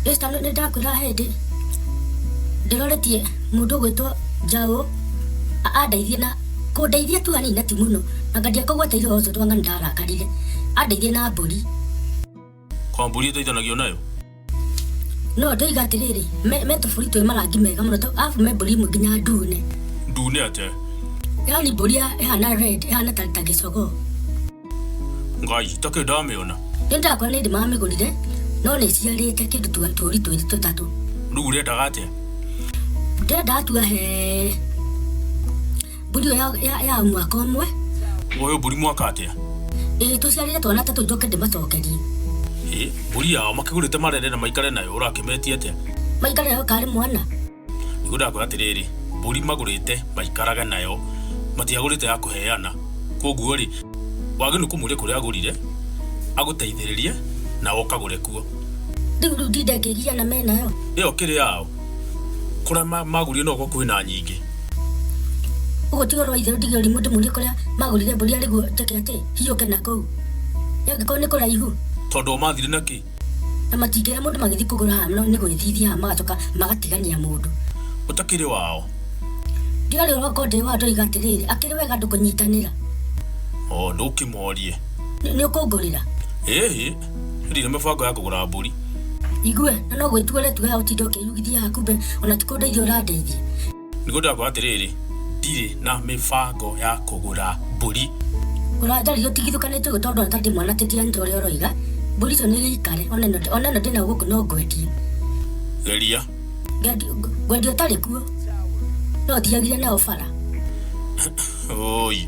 Esta lo nenda kura hende. Ndiroretie mundu gwitwo Jaũ andeithie na kundeithia tu hanini na ti muno na ngadia kũgweteire ũhoro ũcio twanga nĩndarakarire andeithie na mbũri Kwa mbũri ĩteithanagio nayo? no ndoiga atĩrĩrĩ me me tũbũri twĩ marangi mega mũno tũ- arabu me mbũri imwe nginya ndune Ndune atĩa? yani mbũri ya- ĩhana red ĩhana ta ta gĩcogoo ngai itakĩ ndamĩona nĩ ndakwa nĩ ndĩmamĩgũrire no nĩ ciarĩte kĩndũ twa tũri twĩrĩ tũtatũ rĩu ũrendaga atĩa ndĩrenda atua he mbũri ĩyo ya- ya- ya mwaka ũmwe ũyũ mbũri mwaka atĩa ĩĩ tũciarĩre twana tatũ njoke ndĩmacokerie Ĩ, mbũri yao makĩgũrĩte marere na maikare nayo ũrakĩmetie atĩa maikare yo karĩ mwana nĩguo ndakwĩra atĩrĩrĩ mbũri magũrĩte maikarage nayo matiagũrĩte ya kũheana koguo rĩ wagĩrĩirwo kũmũria kũrĩa agũrire agũteithĩrĩrie na ũkagũre kuo Rĩu rĩu ndinde ngĩgiria na me nayo. ĩyo kĩrĩ yao kũrĩa ma- magũrire no gũkorwo kwĩna nyingĩ Ũguo ti ũhoro wa itherũ ndigĩrwo rĩmwe ndĩmũrie kũrĩa magũrire mbũri arĩguo njĩke atĩ hiũke na kũu. Angĩkorwo nĩ kũraihu, tondũ o mathire na kĩ Na matingĩra mũndũ magĩthiĩ kũgũra haha, no nĩ gwĩthithia haha magacoka magatigania mũndũ. Ũtakĩrĩ wao. Ndiarĩ ũroko ndĩ wao ndoiga atĩrĩrĩ, akĩrĩ wega andũ kũnyitanĩra. O, ndũkĩmorie. Nĩ nĩ ũkũngũrĩra? Ĩĩ, ndirĩ na mĩbango ya kũgũra mbũri. Igue, na no gwĩtua ũretua haha ũtinde ũkĩyugithia haha kumbe ona ti kũndeithia ũrandeithia. Nĩgũtwĩra kwa atĩrĩrĩ, ndirĩ na mĩbango ya kũgũra mbũri. Ona njari ũtigithũkanĩtio ũguo tondũ atarĩ mwana tĩtiganĩte ũrĩa ũroiga. Mbũri icio nĩ gĩikare, ona ĩno ona ĩno ndĩna gũkũ no ngwendie. Geria. Ngendio- Ngwendia ũtarĩ kuo. No ũtiagire nayo bara. Ũũi.